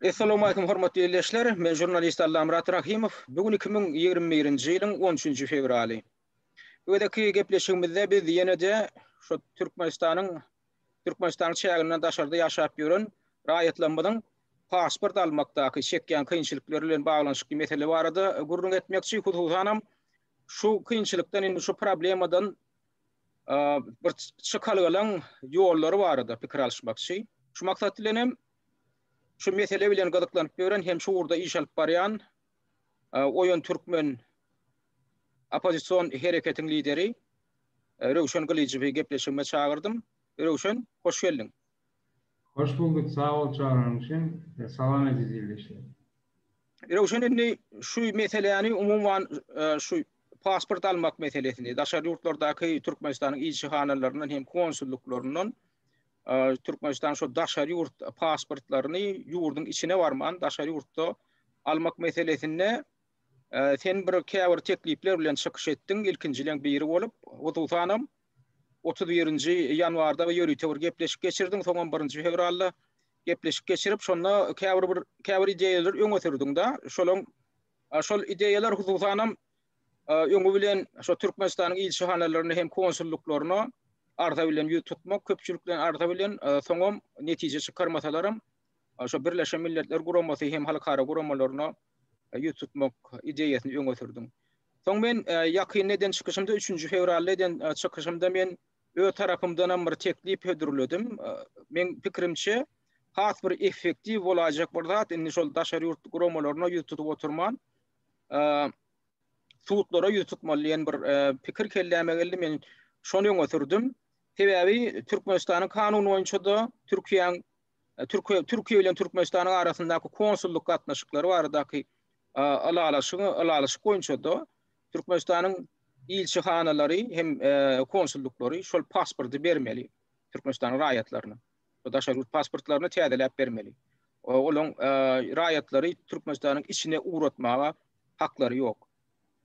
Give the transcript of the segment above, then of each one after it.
Essalawmaleýkum hormatly ildeşler, men žurnalist Allamyrat Rahymow, bu gün iki müň ýigrimi birinji ýylyň on üçünji fewraly. Bu gezekki gepleşigimizde biz ýene-de şu Türkmenistanyň Türkmenistanyň çäginden daşarda ýaşap ýören raýatlarymyzyň pasport almakdaky çekýän kynçylyklary bilen baglanyşykly mesele barada gürrüň etmekçi, hususanam şu kynçylykdan indi şu problemadan bir çykalgalaň ýollary barada pikir alyşmakçy. Şu maksat bilen hem şu mesele bilen gyzyklanyp ýören hem şu ugurda iş alyp barýan Oýun Türkmen oppozision hereketiň lideri Röwşen Gylyjowy gepleşigime çagyrdym. Röwşen, hoş geldiň. Hoş bulduk sag bol çagyryň üçin salam eziz ildeşler. Röwşen indi şu meseläni umuman şu pasport almak meselesini daşary ýurtlardaky Türkmenistanyň ilçihanalaryndan hem konsullyklaryndan Türkmenistanyň şu daşary ýurt pasportlaryny ýurduň içine barman daşary ýurtda almak meselesinde sen bir käbir teklipler bilen çykyş etdiň ilkinjileň biri bolup hususanam Otuz birinji ýanwarda ýörite bir gepleşik geçirdiň, soňam birinji fewralda gepleşik geçirip, şonda käbir bir käbir ideýalary öňe sürdiň-dä. Şolaň şol ideýalar hususanam öňi bilen şo Türkmenistanyň ilçihanalaryna hem konsullyklaryna arza bilen ýüz tutmak, köpçülikleýin arza bilen, soňam netije çykarmasalaram şo Birleşen Milletler Guramasy hem halkara guramalaryna ýüz tutmak ideýasyny öňe sürdiň. Soň men ýakynda eden çykyşymda, üçünji fewralda eden çykyşymda men öz tarapymdanam bir teklip hödürledim. Meň pikirimçe, has bir effektiw bolaýjak bir zat, indi şol daşary ýurt guramalaryna ýüz tutup oturman, sudlara ýüz tutmaly diýen bir pikir kelläme geldi. Men şony öňe sürdüm. Sebäbi Türkmenistanyň kanuny boýunça-da, Türkiýäň Türkiýe bilen Türkmenistanyň arasyndaky konsullyk gatnaşyklary baradaky ylalaşyk boýunça-da Türkmenistanyň ilçihanalary hem konsullyklary şol pasporty bermeli Türkmenistanyň raýatlaryna. Bu daşary ýurt pasportlaryny täzeläp bermeli. Olaryň raýatlary Türkmenistanyň içine ugratmaga haklary ýok.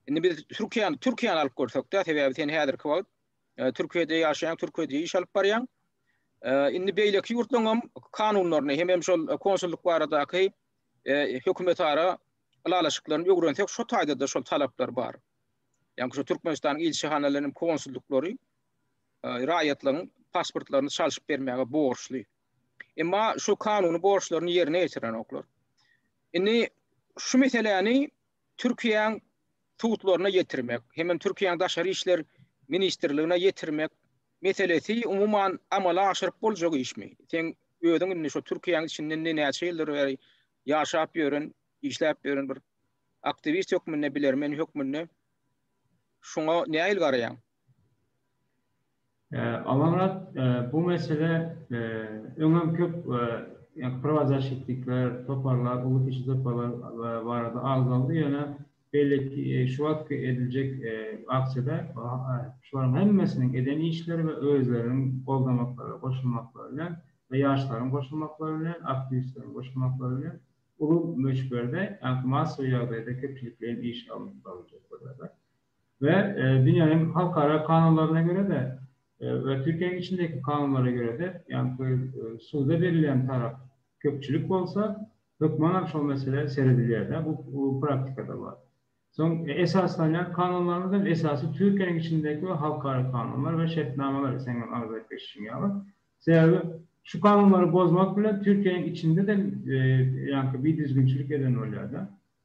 Indi biz Türkiýäni alyp görsekde, sebäbi sen häzirki wagt Türkiýede ýaşaýan türkiýede iş alyp barýan. Indi beýleki ýurtlaryň hem kanunlaryny hem hem şol konsullyk baradaky hökümetara ylalaşyklaryny öwrensek, şu taýda-da şol talaplar bar. Ýani şu Türkmenistanyň ilçihanalarynyň konsullyklary raýatlaryň pasportlaryny çalşyp bermäge borçly. Emma şu kanuny borçlaryny ýerine ýetirenoklar. Indi şu meseläni Türkiýäň sudlaryna ýetirmek hemem Türkiýäň Daşary işler ministrligine ýetirmek meselesi umuman amala aşyryp boljak işmi? Seň özüň indi şu Türkiýäň içinde näçe ýyldyr bäri ýaşap ýören, işläp ýören bir aktiwist hökmünde, bilermen hökmünde şuňa nähili garaýaň? Amanmyrat, bu mesele öňem köp prowazaşitlikler, toparlar, uly kiçi toparlar barada agzaldy, ýöne beýle şu wagtky ediljek aksiýada şolaryň hemmesiniň eden işleri we özleriniň goldamaklary, goşulmaklary bilen we ýaşlaryň goşulmaklary bilen, aktiwistleriň goşulmaklary bilen uly möçberde, ýagny massawy ýagdaýda köpçülikleýin iş alnyp baryljakdyr. we dünýäniň halkara kanunlaryna görä-de we Türkiýäniň içindäki kanunlara görä-de, ýagny suda berilýän tarap köpçülik bolsa, hökmanam şol meselä seredilýär-de, bu praktikada bar. Soň esaslanýan kanunlarymyz hem esasy Türkiýäniň içindäki we halkara kanunlar we şertnamalar, seň hem arz edip geçişiň ýaly. Sebäbi şu kanunlary bozmak bilen Türkiýäniň içinde-de ýagny bidüzgünçilik eden bolýar-da.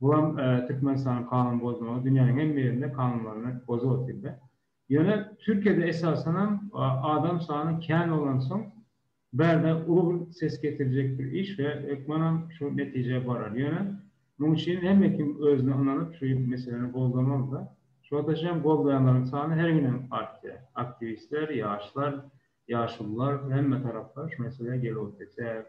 Bu hem Türkmenistanyň kanun bozmagy dünýäniň hemme ýerinde kanunlaryny bozup otyrda. Ýöne Türkiýede esasanam adam sany kän bolansoň bärde uly bir ses getirjek bir iş we hökmanam şu netijä barar. Ýöne muň üçin hemme kim özüne ynanyp şu meseleni goldamalyda. Şu wagtaşam goldaýanlaryň sany her günem artýar. Aktiwistler, ýaşlar, Ýaşulular hemme taraplar şu meselä gel bolup gitýär.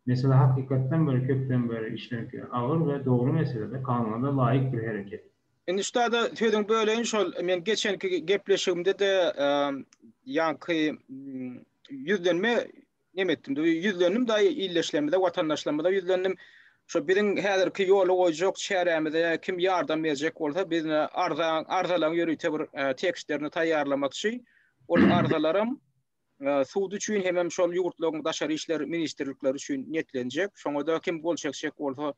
Mesele hakykatdan bir köpden beri işlenip ýören agyr we dogry meselede kanuna-da laýyk bir hereket. Indi ustada sözüňi böleýin şol men geçenki gepleşigimde-de ýaňky ýüzlenme neme etdim ýüzlendim da ildeşlerimize watandaşlarymyza ýüzlendim şo biziň häzirki ýola goýjak çärämize kim ýardam berjek bolsa biz arza arzalaň ýörite bir tekstlerini taýýarlamakçy. Ol arzalaram sud üçin hemem şol ýurtlaryň daşary işler ministrlikleri üçin niýetlenjek. Şoňa-da kim gol çekjek bolsa,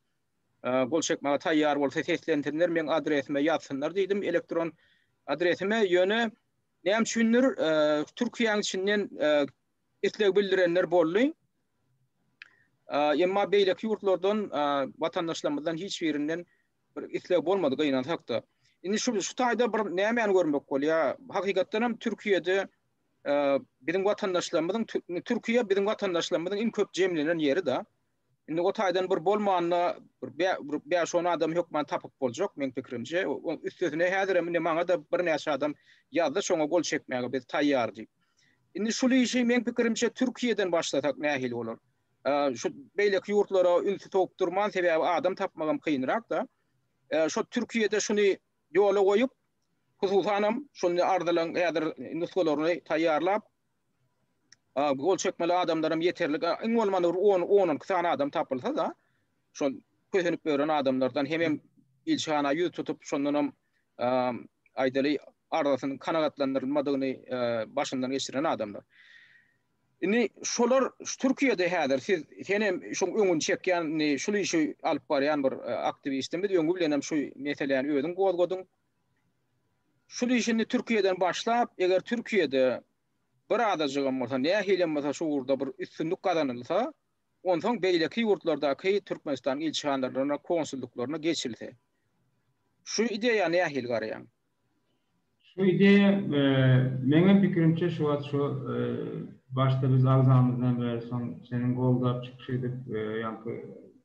gol çekmäge taýýar bolsa seslensinler, meň adresime ýazsynlar diýdim elektron adresime. Ýöne näme üçindir, Türkiýäniň içinden isleg bildirenler boldy. Emma beýleki ýurtlardan, watandaşlarymyzdan hiç birinden bir isleg bolmady gynansak-da. Indi şu şu taýda bir nämäni görmek bolýar? Hakykatdan hem Türkiýede biziň watandaşlarymyzyň Türkiýe biziň watandaşlarymyzyň iň köp jemlenen ýeri-de. Indi o taýdan bir bolmanda bir bäş on adam hökman tapyp boljak meň pikirimçe. Üstesine häzir hem indi maňa-da birnäçe adam ýazdy şoňa gol çekmäge biz taýýar diýip. Indi şul işi meň pikirimçe Türkiýeden başlasak nähili bolar? Şu beýleki ýurtlara ünsi sogup durman, sebäbi adam tapmagam kynrak-da. Şo Türkiýede şuny ýola goýup, hususanam şuny arzylaň häzir nusgalaryny taýýarlap, gol çekmeli adamlaram ýeterlik, iň bolmanda bir on, on iki sany adam tapylsa-da, şol kösenip ýören adamlardan hemem ilçihana ýüz tutup, şondanam aýdaly arzasynyň kanagatlandyrylmadygyny başyndan geçiren adamlar. Indi şolar şu Türkiýede häzir siz sen hem şuň öňüni çekýän şul işi alyp barýan bir aktiwistimiz öňi bilen hem şu meseläni özüň gozgadyň. Şul işi indi Türkiýeden başlap eger Türkiýede bir azajygam bolsa nähilem bolsa şu ugurda bir üstünlik gazanylsa onsoň beýleki ýurtlardaky Türkmenistanyň ilçihanalarynda konsullyklaryna geçilse. Şu ideýa nähili garaýaň? Şu ideýa meňem pikirimçe şu wagt şu başda biz agzamyzdan bäri soň seniň goldap çykyş edip ýaňky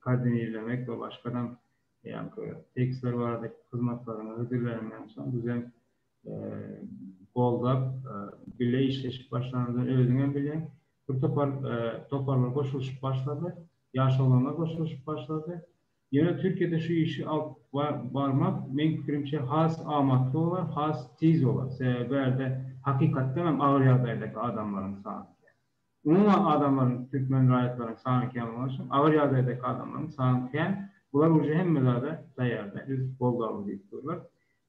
koordinirlemek we başgadam ýaňky tekstler barada hyzmatlaryňy hödürleniňden soň bizem goldap bile işleşip başlanymyzdan özüňem bilýäň bir topar toparlar goşulyşyp başlady ýaş oglanlar goşulyşyp başlady Ýöne Türkiýede şu işi alyp barmak meň pikirimçe has amatly bolar, has tiz bolar. Sebäbi bärde hakykatdan hem agyr ýagdaýdaky adamlaryň sany kän. Umuman adamlaryň türkmen raýatlaryň sany kän bolany üçin agyr ýagdaýdaky adamlaryň sany kän. Bular uje hemme zada taýýarda biz goldaly diýip durlar.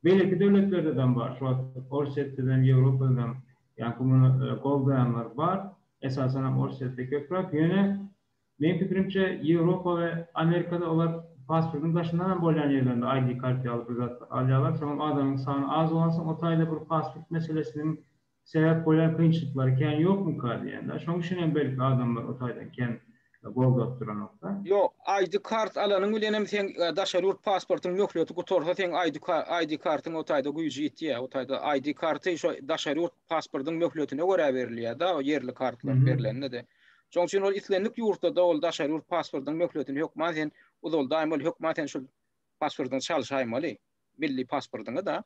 Beýleki döwletlerde dem bar. Şu wagt Orsýetde dem, Ýewropada dem ýaňky muny goldaýanlar bar. Esasan hem Orsýetde köpräk. Ýöne Meň pikirimçe Ýewropa we Amerikada olar pasportyň daşyndan hem bolýan ýerlerinde ID kart ýaly bir zat alýarlar, soňam adamyň sany az bolansoň o taýda bir pasport meselesiniň sebäp bolýan kynçylyklary kän ýokmyka diýenda, şoň üçin hem belki adamlar o taýdan kän gowzap duranokda. Ýok, ID kart alanyň bilenem seň daşary ýurt pasportyň möhleti gutarsa seň ID kartyň o taýda güýji ýitýär, o taýda ID karty şo daşary ýurt pasportyň möhletine görä berilýärda, o ýerli kartlar berlende-de. Şoň üçin ol islendik ýurtda-da ol daşary ýurt pasportynyň möhletini hökman sen uzaldaýmaly, hökman sen şol pasportyňy çalşaýmaly, milli pasportyňy-da.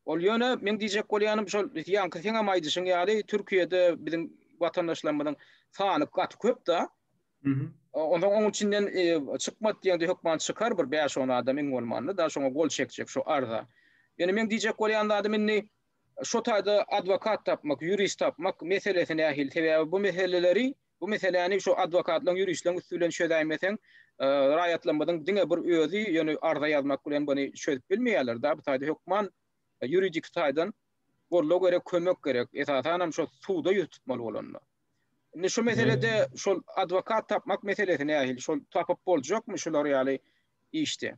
Ol ýöne meň diýjek bolýanym şol ýaňky seňem aýdyşyň ýaly Türkiýede biziň watandaşlarymyzyň sany gaty köp-da. Onsoň oň içinden çykmat diýeňde hökman çykar bir bäş-on adam iň bolmanda-da şoňa gol çekjek şu arza. Ýöne meň diýjek bolýan zadym indi Şo taýda adwokat tapmak, ýurist tapmak meselesi nähili? Sebäbi bu meseleleri, bu meseläni şo adwokatlaryň, ýuristleriň üsti bilen çözäýmeseň, raýatlarymyzyň diňe bir özi, ýöne arza ýazmak bilen buny çözüp bilmeýärler-de. Bu taýda hökman ýuridik taýdan goldaw gerek, kömek gerek. Esasanam şo suda ýüz tutmaly bolanda. Indi şu meselede şol adwokat tapmak meselesi nähili? Şol tapyp boljakmy şular ýaly işde?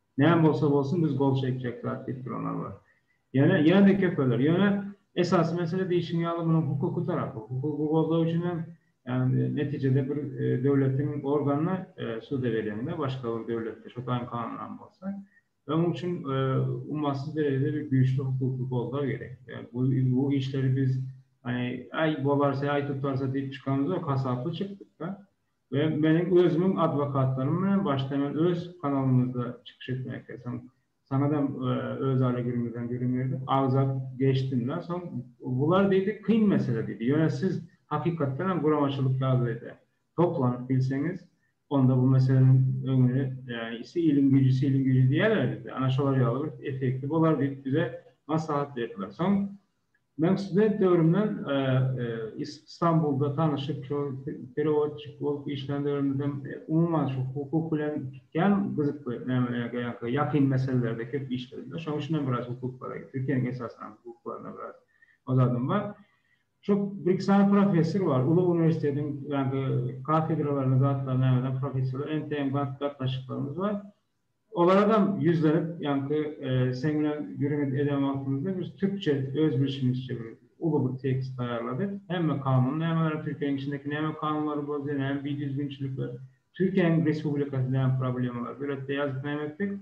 Näme bolsa bolsun biz gol çekjek zat diýip duranlar bar. Ýöne ýene-de köpeler. Ýöne esasy mesele diýşiň ýaly munuň hukuky tarapy. Hukugy gozag üçin hem ýagny netijede bir döwletiň organyna suda berýäňde başga bir döwletde şo taýyn kanunam bolsa. Öň üçin ummasyz derejede bir güýçli hukuky gozag gerek. Bu işleri biz aý bolarse aý tutarsa diýip çykanymyz ýok hasaply çykdyk-da. we meniň özümiň adwokatlarym bilen başda men öz kanalymyzda çykyş etmäge soň saňadam özara gürrüňimizden gürrüň berdik agzap geçdimdä soň bular diýdi kyn mesele diýdi ýöne siz hakykatdan hem guramaçylyk ýagdaýda toplanyp bilseňiz onda bu meseleniň öňüni ýagny iliň güýji siliň güýji diýýärler bizde ana şolar ýaly bir effekti bolar diýip bize maslahat berdiler soň Men student döwrümden Stambulda tanyşyp, şol perewodçik bolup işlän döwrümizem umuman şu hukuk bilen kän gyzykly ýakyn meselelerde köp işledim-de. Şonuň üçin hem biraz hukuklara, Türkiýäniň esasan hukuklaryna biraz ozadym bar. Şo bir-iki sany professor bar, uly uniwersitetiň ýaňky kafedralaryna, zatlaryna ýaňadan professorlar, entegem gatnaşyklarymyz bar. Olaradam ýüzlenip, ýaňky seň bilen gürrüňi eden wagtymyzda biz türkçe öz bilşimizçe bir uly bir tekst taýýarladyk. Hemme kanun nämeleri, Türkiýäniň içindäki näme kanunlary bozdy, näme bidüzgünçilikler, Türkiýäniň respublikasy näme problemalary döretdi ýazyp nämetdik.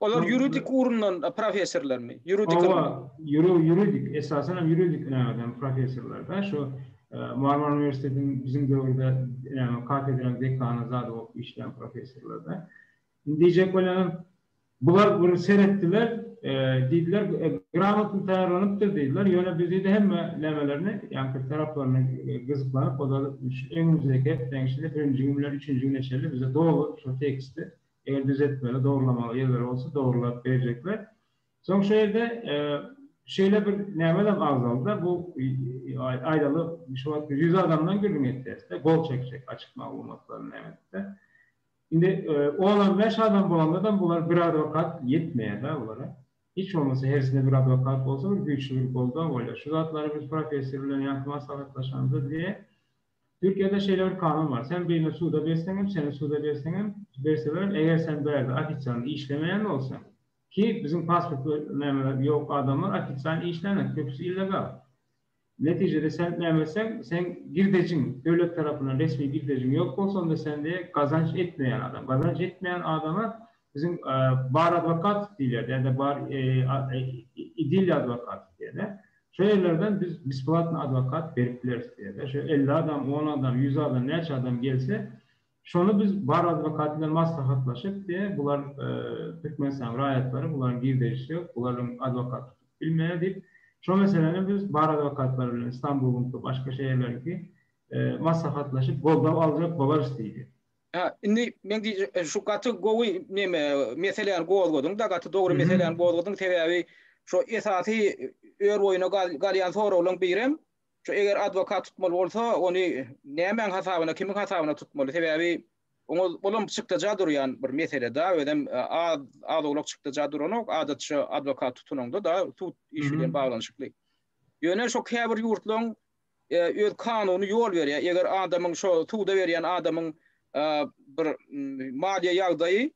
Olar ýuridik ugrundan professorlarmy? Ýuridik ylmy? Hawa, ýuridik, esasan hem ýuridik nämeden professorlarda. Şu Marmara uniwersitetiniň biziň döwürde näme kafedranyň dekany zady bolup işleýän professorlarda. Indi diýjek bolanam, bular bir seretdiler, diýdiler, gramotny taýýarlanypdyr diýdiler, ýöne biz diýdi hemme nämelerini, ýaňky bir taraplaryny gyzyklanyp, ozal şu öňümizdäki hepdäniň içinde birinji gün bilen üçünji güne çenli bize doly şol teksti, eger düzetmeli, dogrulamaly ýerleri bolsa dogrulap berjekler. Soň şu ýerde şeýle bir nämem agzaldy-da, bu aýdaly şu wagt ýüz adamdan gürrüň etýäris-de, gol çekjek açyk maglumatlaryny näme edip-de. Indi on on bäş adam bolandadam bular bir adwokat ýetmeýär da bulara. Hiç bolmasa hersinde bir adwokat bolsa bir güýçli bir goldaw bolýar. Şu zatlary biz professor bilen ýaňky maslahatlaşanymyzda diýýär. Türkiýede şeýle bir kanun bar. Sen birini suda berseň hem, seni suda berseň hem, berselerem eger sen bu ýerde ofisialny işlemeýän bolsaň, ki biziň pasportly nämeler ýok adamlar ofisial işlänok köpüsi illegal. Netijede sen näme etseň, seň girdejiň, döwlet tarapyndan resmi girdejiň ýok bolsa, onda sen diýe gazanç etmeýän adam. Gazanç etmeýän adama biziň bar adwokat diýilýärdi, ýa-da bar idilli adwokat diýilýärdi. Şo ýerlerden biz besplatny adwokat berip bileris diýýärdi. Şo elli adam, on adam, ýüz adam, näçe adam gelse, Şony biz bar adwokat bilen maslahatlaşyp de bular Türkmenistanyň raýatlary bularyň girdejisi ýok, bularyň adwokat tutup bilmeýär diýip şo meseleni biz bar adwokatlary bilen Istanbuluňky başga şeýerleriňki maslahatlaşyp goldap aljak bolarys diýdi. Hä indi men diýjek şu gaty gowy neme meseläni gozgadyň da gaty dogry meseläni gozgadyň sebäbi şo esasy ör boýuna galýan soraglaň birem Şu eger adwokat tutmaly bolsa, ony nämäň hasabyna, kimiň hasabyna tutmaly? Sebäbi oňa olam çykdaja durýan bir mesele-da, özem az az-owlak çykdaja duranok, adatça adwokat tutulanda-da sud işi bilen baglanyşykly. Ýöne şo käbir ýurtlaryň öz kanuny ýol berýär, eger adamyň şo suda berýän adamyň bir maliýe ýagdaýy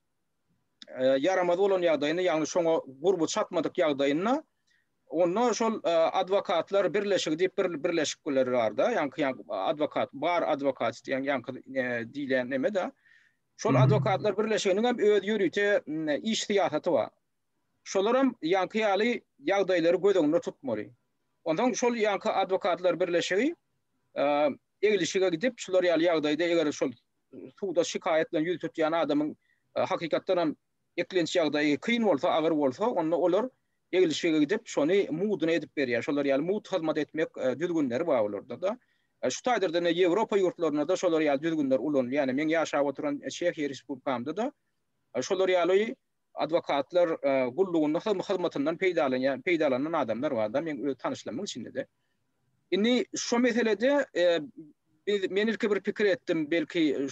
ýaramaz bolan ýagdaýynda, ýagny şoňa gurby çatmadyk ýagdaýynda Onda şol adwokatlar birleşigi diýip bir birleşik biler barda, ýaňky adwokat, bar adwokat diýen ýaňky diýlen neme-de. Şol adwokatlar birleşiginiň hem öz ýörite iş syýasaty bar. Şolar hem ýaňky ýaly ýagdaýlary göz öňünde tutmaly. Ondan şol ýaňky adwokatlar birleşigi eglişige gidip, şular ýaly ýagdaýda eger şol suda şikaýat bilen ýüz tutýan adamyň hakykatdan hem Eklenç ýagdaýy kyn bolsa, agyr bolsa, onda olar eglişige gidip, şony muduna edip berýär. Şolar ýaly mud hyzmat etmek düzgünleri bar olarda-da. Şu taýdan ine Ýewropa ýurtlarynda-da şolar ýaly düzgünler ulanylýar. Ýagny meň ýaşap oturan Çehiýa Respublikamda-da şolar ýaly adwokatlar gullugynda hyzmatyndan peýdalanýan, peýdalanan adamlar bar-da, meň öz tanyşlarymyň içinde-de. Indi şo meselede biz men ilki bir pikir etdim, belki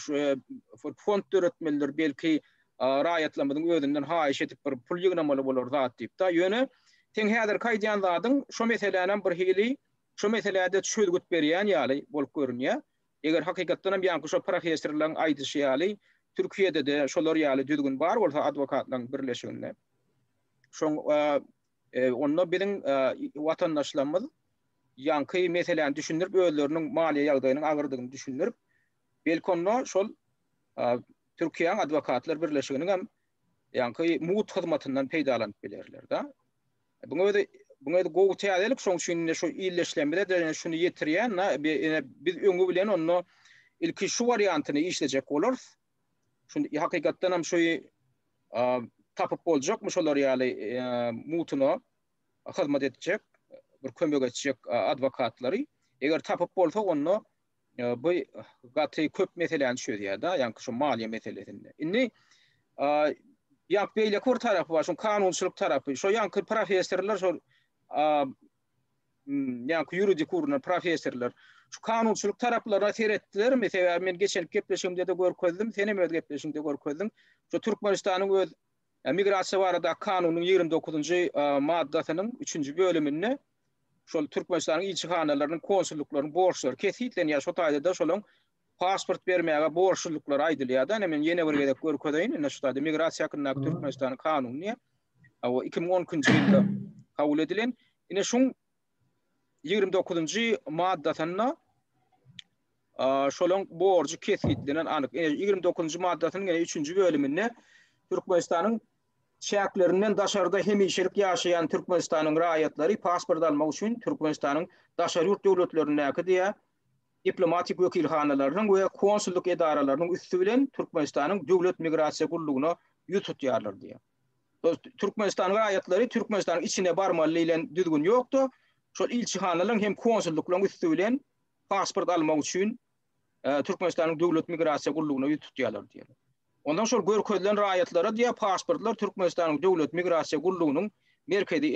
fond döretmelidir, belki raýatlarymyzyň özünden haýyş edip bir pul ýygnamaly bolar zat diýip da. Ýöne seň häzirki aýdýan zadyň şo meselänem bir hili şo meseläde çözgüt berýän ýaly bolup görünýär. Eger hakykatdan hem ýaňky şo professorlaryň aýdyşy ýaly Türkiýede-de şolar ýaly düzgün bar bolsa adwokatlaryň birleşiginde şoň Onda biziň watandaşlarymyz ýaňky meseläni düşündirip, özleriniň maliýe ýagdaýynyň agyrdygyny düşündirip, belki onda şol Türkiýäň adwokatlar birleşiginiň hem ýaňky mugt hyzmatyndan peýdalanyp bilerler-de. Buň özi Buň özi gowy täzelik, şoň üçin indi şu illeşlemede şuny ýetirýän, biz öňi bilen onda ilki şu wariantyny işlejek bolarys. Şun hakykatdan hem şoý tapyp boljakmy şolar ýaly mutuna hyzmat etjek, bir kömek etjek adwokatlary. Eger tapyp bolsa onda bu gaty köp meseläni çözýär da, ýa-ni şu maliýe meselesinde. Indi ýa beýleki bir tarapy bar, şu kanunçylyk tarapy. Şo ýanky professorlar şo ýaňky ýuridik gurumlar, professorlar şu kanunçylyk taraplaryna seretdilermi? Sebäbi men geçenki gepleşigimde-de görkezdim, sen hem öz gepleşigiňde görkezdiň. Şu Türkmenistanyň öz Migrasiýa baradaky kanunynyň ýigrimi dokuzynjy maddasynyň üçünji bölüminde şol Türkmenistanyň ilçihanalarynyň, konsullyklaryň borçlary kesgitlenýär. Şo taýda-da şolaryň pasport bermäge borçludyklary aýdylýar-da, ine men ýene bir gezek görkezeýin, ine şu taýda Migrasiýa hakyndaky Türkmenistanyň kanuny diýýär. Hawa, iki müň on ikinji ýylda kabul edilen. Ine şuň ýigrimi dokuzynjy maddasynda şolaň borjy kesgitlenen anyk. Ine ýigrimi dokuzynjy maddasynyň ine üçünji bölüminde Türkmenistanyň çäklerinden daşarda hemişelik ýaşaýan Türkmenistanyň raýatlary pasport almak üçin Türkmenistanyň daşary ýurt döwletlerindäki diýýär, diplomatik wekilhanalarynyň we konsullyk edaralarynyň üsti bilen Türkmenistanyň Döwlet migrasiýa gullugyna ýüz tutýarlar diýýär. Türkmenistan raýatlary Türkmenistanyň içine barmaly diýlen düzgün ýokdy. Şol ilçihanalaryň hem konsullyklaryň üsti bilen pasport almak üçin Türkmenistanyň Döwlet migrasiýa gullugyna ýüz tutýarlar diýýär. Ondan şol görkezilen raýatlara diýýär pasportlar Türkmenistanyň Döwlet migrasiýa gullugynyň merkezi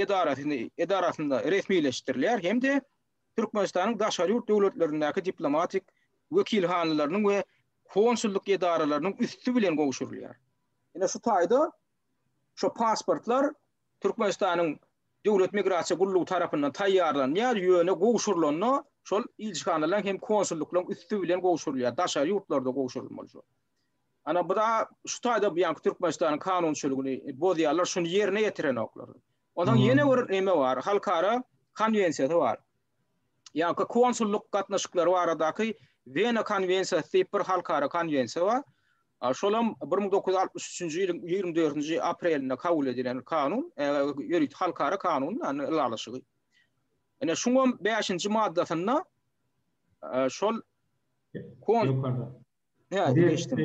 edarasynda resmileşdirilýär hem-de Türkmenistanyň daşary ýurt döwletlerindäki diplomatik wekilhanalarynyň we konsullyk edaralarynyň üsti bilen gowşurylýar. Ine şu taýda şu pasportlar Türkmenistanyň Döwlet migrasiýa gullugy tarapyndan taýýarlanýar, ýöne gowşurylanda şol ilçihanalaryň hem konsullyklaryň üsti bilen gowşurylýar, daşary ýurtlarda gowşurylmaly şol. Ana bu da şu taýda bu ýanky Türkmenistanyň kanunçylygyny bozýarlar, şuny ýerine ýetirenoklar. Onsoň ýene bir näme bar? Halkara konwensiýasy bar. Ýa-da konsullyk gatnaşyklary baradaky Wena konwensiýasy diýip bir halkara konwensiýa bar. Şol hem bir müň dokuz ýüz altmyş üçünji ýylyň ýigrimi dördünji aprelinde kabul edilen kanun, ýörite halkara kanun, ýagny ylalaşygy. Ine, şuň hem bäşinji maddasynda şol Hä, geçdim.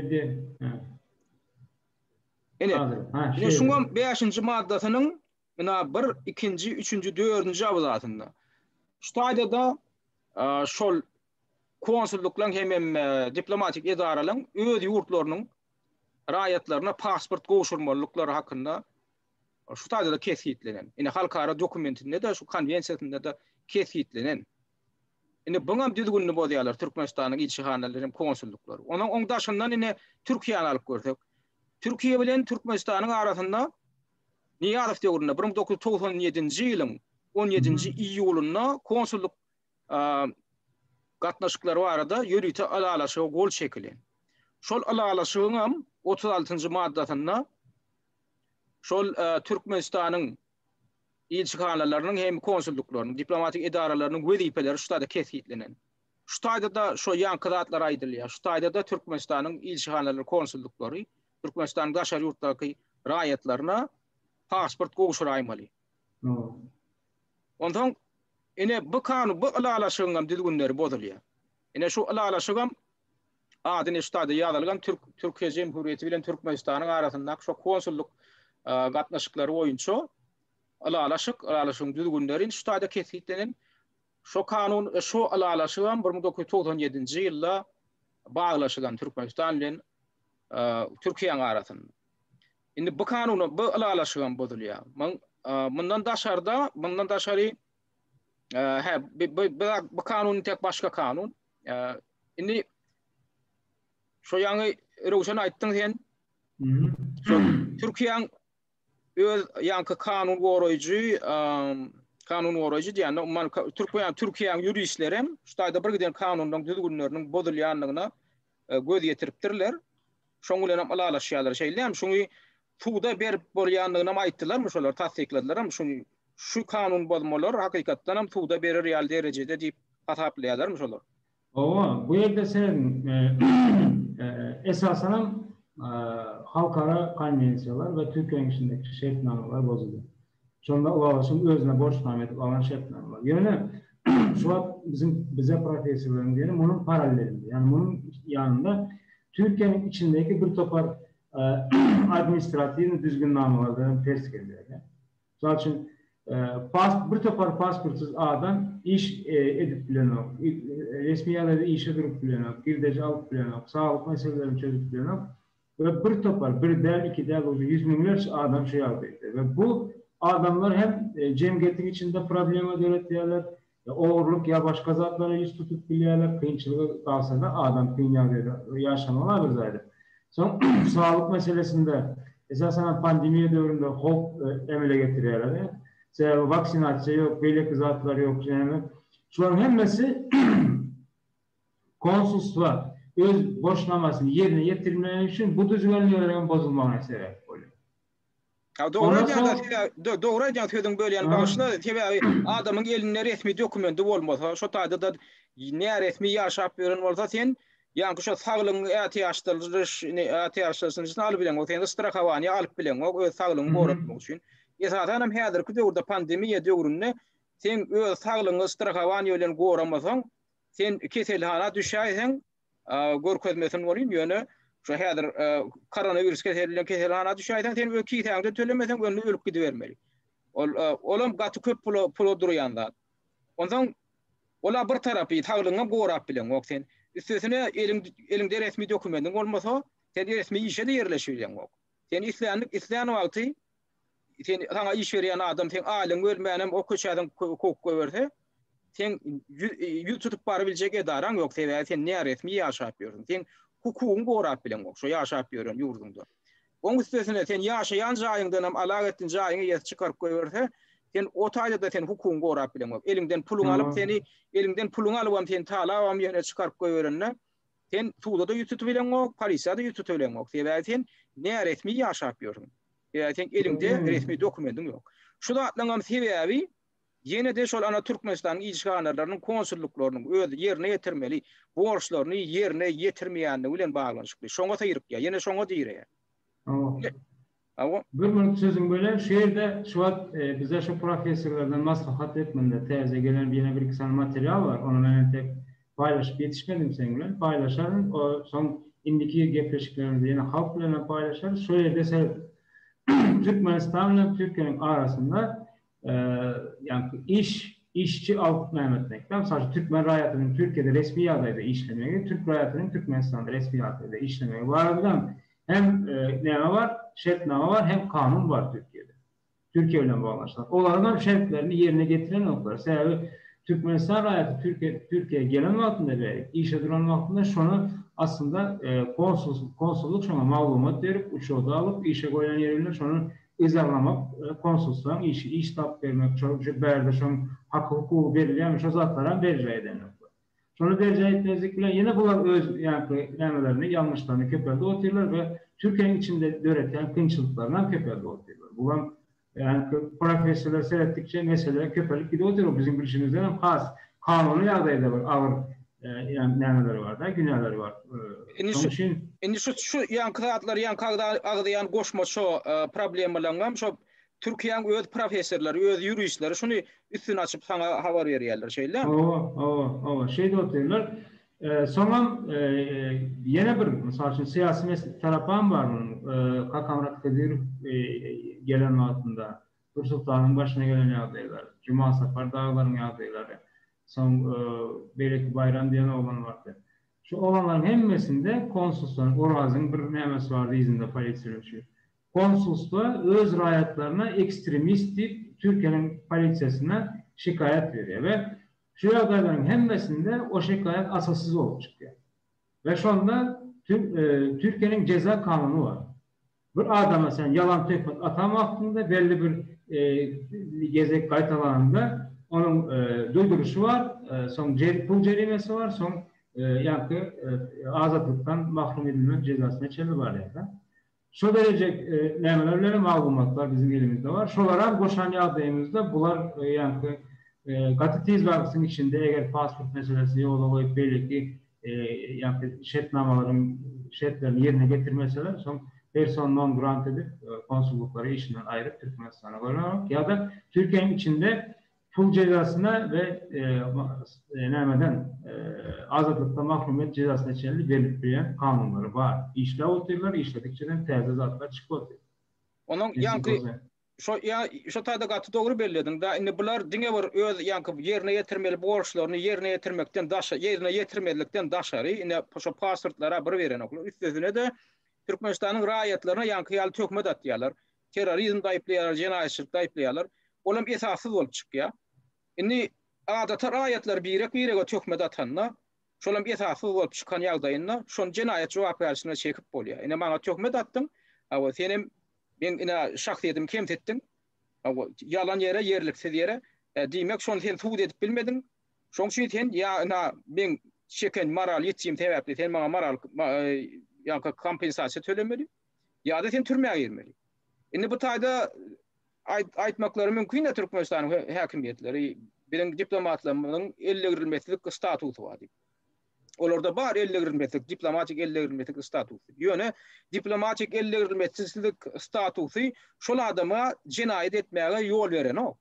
Ine, ine şuňam 5-nji maddasynyň ina 1, 2-nji, 3-nji, 4-nji abzasynda. Şu taýda-da şol konsullyklaryň hem diplomatik edaralaryň öz ýurtlarynyň raýatlaryna pasport gowşurmalyklary hakynda şu taýda-da kesgitlenen. Ine, halkara dokumentinde-de, şu konwensiýasynda-da kesgitlenen. Indi buňam düzgünini bozýarlar Türkmenistanyň ilçihanalary hem konsullyklary. Onuň oň daşyndan indi Türkiýäni alyp görsek. Türkiýe bilen Türkmenistanyň arasynda Nyýazow döwründe bir müň dokuz ýüz togsan ýedinji ýylyň on ýedinji iýulynda konsullyk gatnaşyklary barada ýörite ylalaşyga gol çekilen. Şol ylalaşygyňam otuz altynjy maddasynda şol Türkmenistanyň Ilçihanalarynyň hem konsullyklarynyň, diplomatik edaralarynyň wezipeleri şu taýda kesgitlenen. Şu taýda-da şo ýaňky zatlar aýdylýar. Şu taýda-da Türkmenistanyň ilçihanalary, konsullyklary Türkmenistanyň daşary ýurtdaky raýatlaryna pasport gowşuraýmaly. Onsoň ine bu kan bu ylalaşygyňam düzgünleri bozulýar. Ine şu ylalaşygam Ady neşterde ýazylgan Türk Türkiýe Jemhuriyeti bilen Türkmenistanyň arasyndaky şo konsullyk gatnaşyklary boýunça ylalaşyk, ylalaşygyň düzgünleri neşterde kesgitlenen. Şo kanun, şo ylalaşygam bir müň dokuz ýüz togsan ýedinji ýylda baglaşylan Türkmenistan bilen Türkiýäň arasynda. Indi bu kanun, bu ylalaşygam bozulýar. Mundan daşarda, mundan daşary, hä, bu kanun tek başga kanun. Indi şu ýaňy Röwşen aýtdyň sen. Türkiýäň öz ýaňky kanun goraýjy, kanun goraýjy diýende, umman Türkiýäň Türkiýäň ýuristleri hem şu taýda bir giden kanunlaryň düzgünleriniň bozulýandygyna e, göz ýetiripdirler. Şoň bilenem ylalaşýarlar. Şeýdilýärmi? Şuňy suda berip bolýandygynam aýtdylarmy şolar, tassykladylaram? Şuňy şu kanun bozmalar hakykatdanam suda berer ýaly derejede diýip hasaplaýarlarmy şolar? Hawa, bu ýerde sen esasanam halkara konwensiýalar we Türkiýäniň içindeki şertnamalar bozulýar. Şonda Owagyşyň özüne borçnama edip alan şertnamalar. Ýöne şu wagt biziň bize professorlaryň diýeni munuň parallelinde, ýagny munuň ýanynda Türkiýäniň içindäki bir topar administratiwnyý düzgünnamalar bilen ters gelýär. Mysal üçin, pas bir topar pasportsyz adam iş edip bilenok, resmi ýagdaýda işe durup bilenok, girdeji alyp bilenok, saglyk meselelerini çözüp bilenok. we bir topar, bir däl, iki däl, ujy ýüz müňlerçe adam şu ýagdaýda we bu adamlar hem jemgyýetiň içinde problema döretýärler, ogurlyk ýa başga zatlara ýüz tutup bilýärler, kynçylyga galsada adam kyn ýagdaýda ýaşamagy agyr zaýada. Soň saglyk meselesinde esasan hem pandemiýa döwründe howp emele getirýärler, sebäbi waksinasiýa ýok, beýleki zatlar ýok, şunuň hemmesi Konsulstwa öz borçnamasyny ýerine ýetirmegi üçin bu düzgünleriň bozulmagyna sebäp bolýar. Dogry aýdýaňda sebäbi dogry aýdýaň sözüňi bölýän bagyşla sebäbi adamyň elinde resmi dokumendi bolmasa şo taýdada näresmi ýaşap ýören bolsa sen ýaňky şo saglygyň ätiýaçdyryş ätiýaçlaşnyşyny alyp bileňok sen strahowaniýa alyp bileňok öz saglygyňy goratmak üçin esasanam häzirki döwürde pandemiýa döwründe seň öz saglygyňy strahowaniýa bilen goramasaň Sen keselhana düşäýseň, görkezmesin bolýyn, ýöne şu häzir koronawirus keseli bilen keselhana düşäýseň, sen öz kisäňden tölemeseň, onda ölüp gidibermeli. Ol, olam gaty köp pula, pula durýan zat. Onsoň, ola bir tarapy, saglygyňam gorap bileňok sen. Üstesine, eliň, eliňde resmi dokumentiň bolmasa, sen resmi işe-de ýerleşip bileňok. Sen islendik, islän wagty Sen saňa iş berýän adam seň aýlygyňy bermänem o köçäden kowup goýberse, sen ýüz tutup bary biljek edaraň ýok, sebäbi sen näresmi ýaşap ýörsiň. Sen hukugyňy gorap bileňok şo ýaşap ýören ýurduňda. Oň üstesine sen ýaşaýan jaýyňdanam alag etdin, jaýyňy ýesi çykaryp goýberse, sen o taýda-da sen hukugyňy gorap bileňok. Eliňden puluňy alyp seni, eliňden puluňy alybam seni talabam ýöne çykaryp goýberende, Sen suda-da ýüz tutup bileňok, polisiýa-da ýüz tutup bileňok. Sebäbi sen näresmi ýaşap ýörsüň. Sebäbi seň eliňde resmi dokumendiň ýok. Şu zatlaryň hem sebäbi ýene-de şol ana Türkmenistanyň ilçihanarlarynyň, konsullyklarynyň öz ýerine ýetirmeli borçlaryny ýerine ýetirmeýänligi bilen baglanyşykly. Şoňa syrykýar, ýene şoňa direýär. Bir gün sözüň bölen şu ýerde şu wagt bize şu professorlardan maslahat hökmünde täze gelen ýene bir iki sany material bar ony men entek paýlaşyp ýetişmedim seň bilen paýlaşaryn o soň indiki gepleşiklerimizde ýene halk bilenem paýlaşarys şo ýerde seredip Türkmenistan bilen Türkiýäniň arasynda ýa-da iş, işçi alyp nämetmekden, mysal üçin, türkmen raýatynyň Türkiýede resmi ýagdaýda işlemegi, türk raýatynyň Türkmenistanda resmi ýagdaýda işlemegi barada hem näme bar, şertnama bar, hem kanun bar Türkiýede, Türkiýe bilen baglanyşykly. Olaryň hem şertlerini ýerine ýetirenoklar. Sebäbi Türkmenistan raýaty Türkiýe, Türkiýä gelen wagtynda we işe duran wagtynda şony aslynda konsul, konsullyk şoňa maglumat berip, uçurda alyp, işe goýan ýeri bilen şonuň Yz aglamak, konsulslaň işi, iş tapyp bermek, şo şu bärde şoň haky hukugy berilýärmi şo zatlaram berjaý eden ýoklar. Şony berjaý etmezlik bilen ýene bular öz ýaňky nämelerini, ýalňyşlaryny köpeldip otyrlar we Türkiýäň içinde döretýän kynçylyklaryny hem köpeldip otyrlar. Bu hem ýaňky professorlary seretdikçe mesele köpelip gidip otyr, bu biziň bilşimizden hem has kanuny ýagdaýda bir agyr Ýa nämeleri bar-da, günäleri bar. Şonuň üçin. Indi şu, şu ýaňky zatlar, ýaňky agzaýan goşma şo problemalaryňam şo Türkiýäň öz professorlary, öz ýuristleri şuny üstüni açyp saňa habar berýärler, şeýdämi? Hawa, hawa, hawa, şeýdip oturýarlar. Soňam ýene bir, mysal üçin, syýasy tarapam bar munuň. Kakamyrat Hydyrow gelen wagtynda, Nursultanyň başyna gelen ýagdaýlar, Jumasapar daglaryň ýagdaýlary, soň beýleki Baýram diýen oglan bardy. Şu oglanlaryň hemmesinde konsulsdan Orazyň bir nämesi bardy yzynda polisiýa üçin. Konsulsda öz raýatlaryna ekstremist diýip Türkiýäniň polisiýasyna şikaýat berýär we şu ýagdaýlaryň hemmesinde o şikaýat asassyz bolup çykýar. We şonda Türkiýäniň jeza kanuny bar. Bir adama sen ýalan töhmet atan wagtyňda, belli bir gezek gaýtalananda, onuň duýduryşy bar, soň pul jerimesi bar, soň ýa-da azatlykdan mahrum edilmek jezasyna çenli barýar-da. Şo dereje nämeler bilenem maglumatlar biziň elimizde bar. Şolaram goşan ýagdaýymyzda bular ýa-da gaty tiz wagtyň içinde eger pasport meselesini ýola goýup beýleki ýa-da şertnamalaryň şertlerini ýerine ýetirmeseler, soň persona non grata edip, konsullyklary işinden aýryp, Türkmenistana gönübermek ýa-da Türkiýäniň içinde pul jezasyna we nämeden, azatlykdan mahrum et jezasyna çenli berlip bilýän kanunlary bar. Işläp otyrlar, işledikçe hem täze zatlar çykyp otyr. Onuň ýaňky Şo ýa şo taýda gaty dogry bellediň da indi bular diňe bir öz ýaňky ýerine ýetirmeli borçlaryny ýerine ýetirmekden daşa ýerine ýetirmezlikden daşary ine şo pasportlara bir berenoklar üstesine-de Türkmenistanyň raýatlaryna ýaňky ýaly töhmet atýarlar terrorizmde aýyplaýarlar jenaýatçylykda aýyplaýarlar ol hem esassyz bolup çykýar indi adaty raýatlar birek birege töhmet atanda şol hem esassyz bolup çykan ýagdaýynda şony jenaýat jogapkärçiligine çekip bolýar ine maňa töhmet atdyň awa sen hem Meň ine şahsyýetimi kemsitdiň. Ýalan ýere, ýerliksiz ýere. Diýmek, şony sen subut edip bilmediň. Şoň üçin sen ýa ina meň çeken moral ýitgim sebäpli sen maňa moral ýa-da kompensasiýa tölemeli, ýa-da sen türmä girmeli. Indi bu taýda aýtmaklary mümkin-dä Türkmenistanyň häkimiýetleri biziň diplomatlarymyzyň ellegirilmezlik statusy bar diýip. Olarda bar ellegrilmesizlik, diplomatik ellegrilmesizlik statusy. Ýöne diplomatik ellegrilmesizlik statusy şol adama jenaýat etmäge ýol berenok.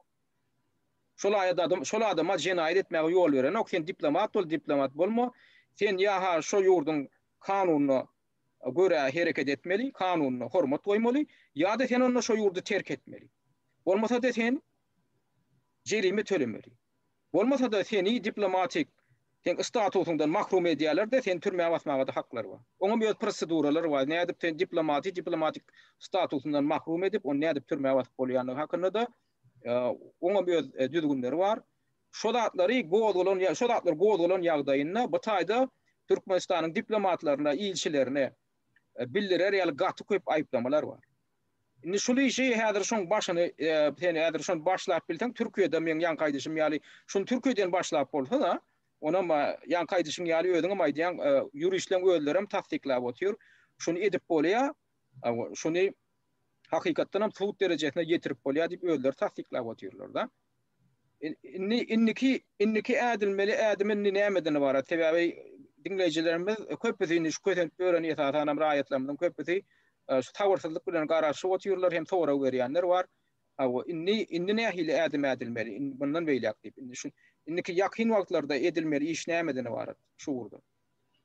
Şol adam, şol adama jenaýat etmäge ýol berenok. Sen diplomat bol, diplomat bolma. Sen ýa-ha şo ýurduň kanunyna görä hereket etmeli, kanunyna hormat goýmaly, ýa-da sen onda şo ýurdy terk etmeli. Bolmasa-da sen jerime tölemeli. Bolmasa-da seni diplomatik seň statusyňdan mahrum edýäler-de, seni türmä basmaga-da haklary bar. Oňam öz proseduralary bar. Nädip seni diplomaty diplomatik statusyndan mahrum edip, ony nädip türmä basyp bolýandygy hakynda-da oňam öz düzgünleri bar. Şo zatlary gozgalan ýa şo zatlar gozgalan ýagdaýynda bu taýda Türkmenistanyň diplomatlaryna, ilçilerine bildirer ýaly gaty köp aýyplamalar bar. Indi şul işi häzir şuň başyny sen häzir şony başlap bilseň Türkiýede meň ýaňky aýdyşym ýaly şuny Türkiýeden başlap bolsa-da onam ýaňky aýdyşyň ýaly özüňem aýdýaň ýuristleň özlerem tassyklap otyr şuny edip bolýa şuny hakykatdanam sud derejesine ýetirip bolýa diýip özleri tassyklap otyrlar-da. Indi indiki indiki ädilmeli ädim indi nämeden ybarat? Sebäbi diňleýjilerimiz köpüsi indi şu kösenip ýören esasan hem raýatlarymyzyň köpüsi e, şu sabyrsyzlyk bilen garaşyp otyrlar hem sorag berýänler bar. Hawa, indi indi nähili ädim ädilmeli? Indi bundan beýläk diýip, indi şu indiki ýakyn wagtlarda edilmeli iş nämeden ybarat şu ugurda?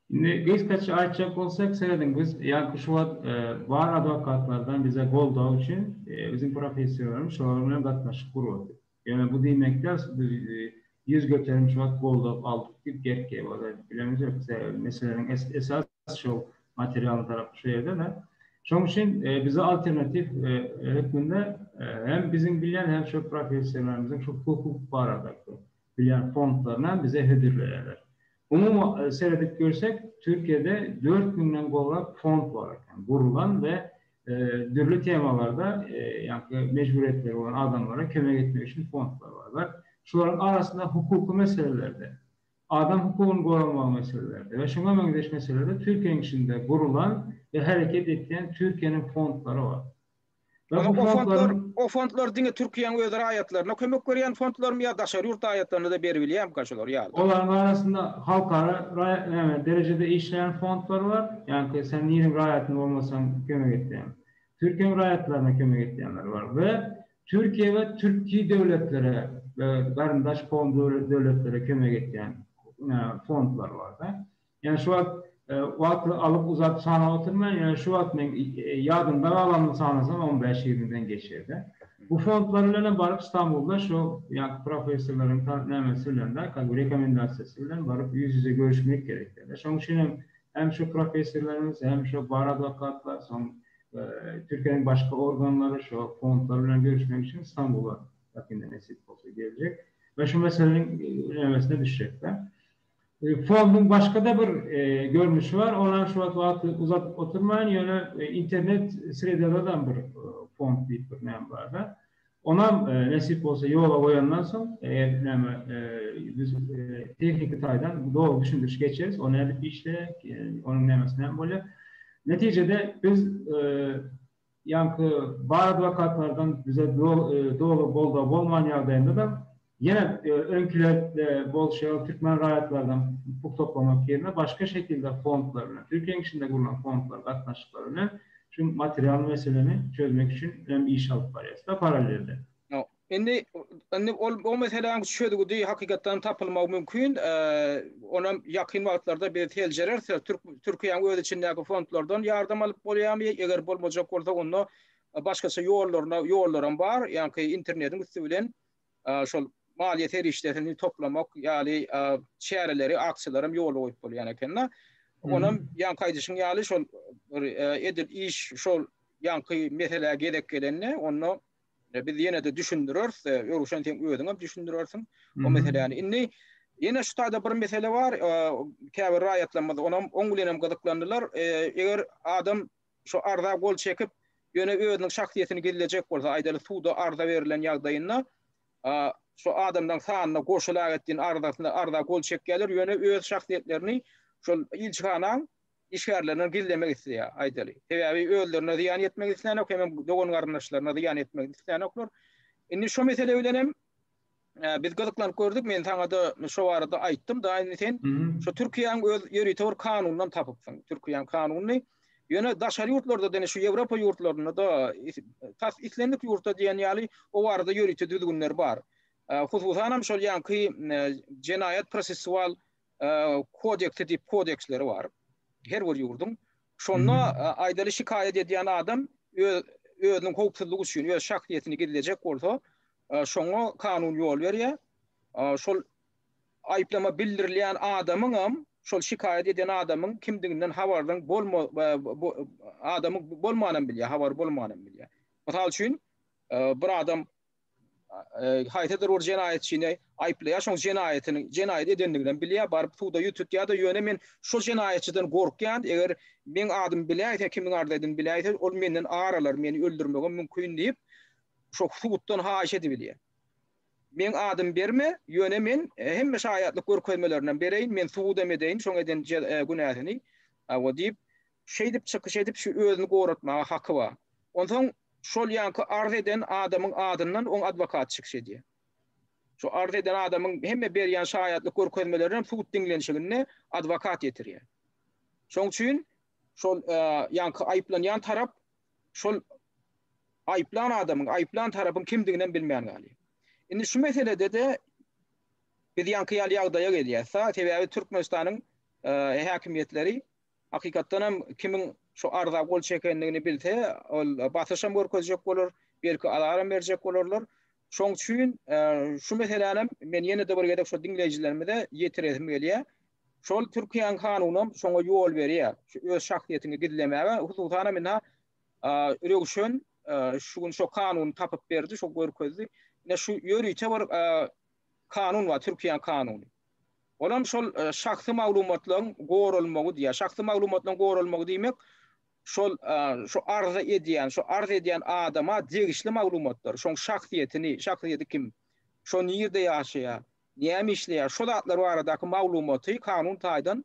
Indi gysgaça aýtjak bolsak, seredin biz ýaňky şu wagt bar adwokatlardan bize goldaw üçin biziň professorlarymyz şolar bilen gatnaşyk gurady. Ýöne bu diýmek däl, biz ýüz göterim şu wagt goldaw aldyk diýip gerkewip ozal bilemiz ýok. Sebäbi meseläniň esas şol materialnyň tarapy şu ýerde-de. Şonuň üçin bize alternatiw hökmünde hem biziň bilýän hem şu professorlarymyzyň şu hukuk baradaky Bilýän fondlarynam bize hödürleýärler. Umumy seredip görsek, Türkiýede dört müňden gowrak fond bar eken, gurlan we dürli temalarda ýaňky mejburyýetleri bolan adamlara kömek etmek üçin fondlar bar we şolaryň arasynda hukuky meselelerde, adam hukugyny goramagy meselelerde we şuňa meňzeş meselelerde Türkiýäniň içinde gurlan we hereket etýän Türkiýäniň fondlary bar. Aga o fondlar, o fondlar diňe Türkiýäň öz raýatlaryna kömek berýän fondlarmy ýa daşary ýurt raýatlaryna-da beribilýärmika şular ýaly? Olaryň arasynda halkara raýat, näme, derejede işleýän fondlar bar, ýaňky sen niriň raýatyny bolmasaň kömek etýän. Türkiýäň raýatlaryna kömek etýänler bar we Türkiýä we türki döwletlere we garyndaş-kowum döwletlere kömek etýän, näme, fondlar bar-da. Ýöne şu wagt wagt alyp uzat sanap oturman, ýöne şu wagt men ýadymda galanyny sanasam on bäş ýigrimiden geçýärdi. Bu fondlar bilenem baryp Stambulda şu ýaňky professorlaryň ta nämesi bilen-de kazy rekomendasiýasy bilen baryp ýüz ýüze görüşmek gerek dälde. Şoň üçin hem hem şu professorlarymyz hem şu bar adwokatlar soň Türkiýäniň başga organlary şu fondlar bilen görüşmek üçin Stambula ýakynda nesip bolsa geljek we şu meseleniň nebesine düşjekler. Fonduň başga-da bir görnüşi bar, ol hem şu wagt wagty uzadyp oturmaýyn, ýöne internet sredaladam bir fond diýip bir näme bar-da, onam nesip bolsa ýola goýandan soň, eger näme biz tehniki taýdan doly düşündiriş geçeris, o nädip işleýär, onuň nämesi näme bolýar. Netijede biz Ýaňky bar adwokatlardan bize doly goldaw bolman ýagdaýynda-da, ýene öňkiler bolşy ýaly türkmen raýatlarynyň hukuk toplamak ýerine başga şekilde fondlar bilen, Türkiýäň içinde gurlan fondlar gatnaşyklary bilen şu material meseleni çözmek üçin hem iş alyp barýarys-da parallelde. Indi, indi ol o meseläň çözgüdi hakykatdanam tapylmagy mümkin. Onam ýakyn wagtlarda biz seljereris. Türk, Türkiýäň öz içindäki fondlardan ýardam alyp bolýarmy? Eger bolmajak bolsa, onda başgaça ýollaryna, ýollaram bar. Ýaňky internetiň üsti bilen şol maliýe serişdesini toplamak ýaly çäreleri, aksiýalaram ýola goýup bolýan eken-de. Onam ýaňky aýdyşyň ýaly şol bir edil iş şol ýaňky meselä gezek gelende, onda E, biz ýene-de düşündireris, e, Örüşen sen özüň hem düşündirersiň o meseläni. Indi ýene şu taýda bir mesele bar, e, käbir raýatlarymyz onam oň bilen hem gyzyklandylar. E, eger adam şu arza gol çekip, ýöne özüniň şahsyýetini gizlejek bolsa, aýdaly suda arza berlen ýagdaýynda, e, şu adamlaryň sanyna goşulag etdiň arzasyna arza gol çekýärler, ýöne öz şahsyýetlerini şol ilçihanaň işgärlerine gizlemek isleýär, aýdaly. Sebäbi özlerine zyýan ýetmegini islänok, hemem dogan-garyndaşlaryna zyýan etmegini islänoklar. Indi şo mesele bilen hem biz gyzyklanyp gördük, men saňa-da şo barada aýtdym-da, indi sen şo Türkiýäň öz ýörite bir kanunyndan tapypsyň, Türkiýäň kanunyny. Ýöne daşary ýurtlarda-da, indi şu Ýewropa ýurtlarynda-da, tas islendik ýurtda diýen ýaly o barada ýörite düzgünler bar. Hususan hem şol ýaňky jenaýat-prosessual kodeksi diýip kodeksleri bar. Her bir ýurduň. Şonda aýdaly şikaýat edýän adam öz özüniň howpsuzlygy üçin öz şahsyýetini gizlejek bolsa, şoňa kanun ýol berýär. Şol aýyplama bildirilýän adamyň hem şol şikaýat edýän adamyň kimdiginden habardan bolma adamyň bolmanam bilýär, habary bolmanam bilýär. Mysal üçin, bir adam haýsydyr bir jenaýatçyny aýyplaýar, şoň jenaýatyny, jenaýat edendigini hem bilýär, baryp suda ýüz tutýar-da, ýöne men şo jenaýatçydan gorkýan, eger meň adymy biläýse, kimiň arzaýdyny biläýse, ol menden ar alar, meni öldürmegem mümkin diýip, şo suddan haýyş edibilýär. Meň adymy berme, ýöne men hemme şaýatlyk görkezmelerini hem bereýin, men subut hem edeýin şoň eden günäsini, hawa diýip, şeýdip çykyş edip, şu özüni goratmaga haky bar. Onsoň Şol ýaňky arz eden adamyň adyndan oň adwokaty çykyş edýär. Şu arz eden adamyň hemme berýän şaýatlyk görkezmelerini sud diňlenişiginde adwokat ýetirýär. Şoň üçin şol ýaňky aýyplanýan tarap şol aýyplan adamyň, aýyplan tarapyň kimdigini hem bilmän galýar. Indi şu meselede-de biz ýaňky ýaly ýagdaýa gelýäs. Sebäbi Türkmenistanyň häkimiýetleri Hakykatdan hem kimiň şu arza gol çekendigini bilse, ol basyş hem görkezjek bolar, belki azar hem berjek bolarlar. Şoň üçin şu meseläni hem men ýene-de bir gezek şu diňleýjilerimize ýetiresim gelýär. Şol Türkiýäniň kanuny hem şoňa ýol berýär. Şu öz şahsyýetiňi gizlemäge, hususan hem indi-ha Röwşen şu gün şo kanuny tapyp berdi, şo görkezdi. Ine şu ýörite bir kanun bar, Türkiýäniň kanuny. Olam şol şahsy maglumatlaryň goralmagy diýýär. Şahsy maglumatlaryň goralmagy diýmek, şol şu arz edýän, şu arz edýän adama degişli maglumatlar, şoň şahsyýetini, şahsyýeti kim, şo nirde ýaşaýar, näme işleýär, şo zatlar baradaky maglumaty kanun taýdan